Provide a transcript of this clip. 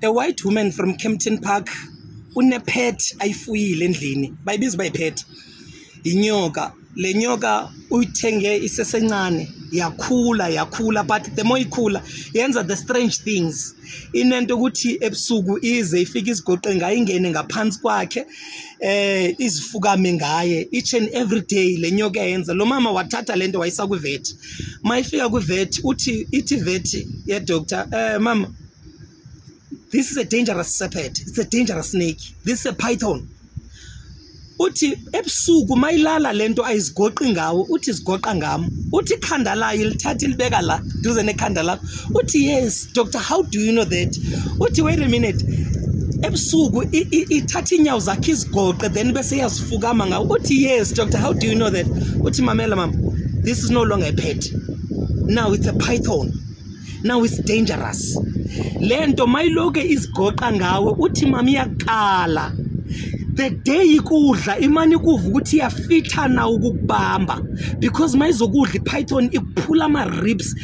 a white woman from Kempton Park unepet ayifuyile endlini bayibiza bayipet inyoka le nyoka uyithenge isesencane yakhula yakhula but the more ikhula yenza the strange things inento ukuthi ebusuku ize ifike izigoqe ngayo ingene ngaphansi kwakhe eh izifukame ngaye each and every day le nyoka yenza lo mama wathatha lento wayisa kwivet mayifika kwivet uthi ithi vet yedoctor um eh, mama this is a dangerous serpent it's a dangerous snake this is a python uthi ebusuku mayilala lento ayizigoqi ngawo uthi zigoqa ngami uthi ikhanda layo lithatha ilibeka la duze nekhanda lakho uthi yes Doctor, how do you know that? Uthi wait a minute. Ebusuku ithatha inyawo zakhe izigoqe then bese yazifukama ngawo. Uthi yes, doctor, how do you know that? Uthi mamela mama, this is no longer a pet. Now it's a python. Now it's dangerous. Lento mayiloke izigoqa ngawe uthi mama iyakala. the day ikudla imane ikuva ukuthi iyafithana ukukubamba because mayizokudla ipython ikuphula ama-ribs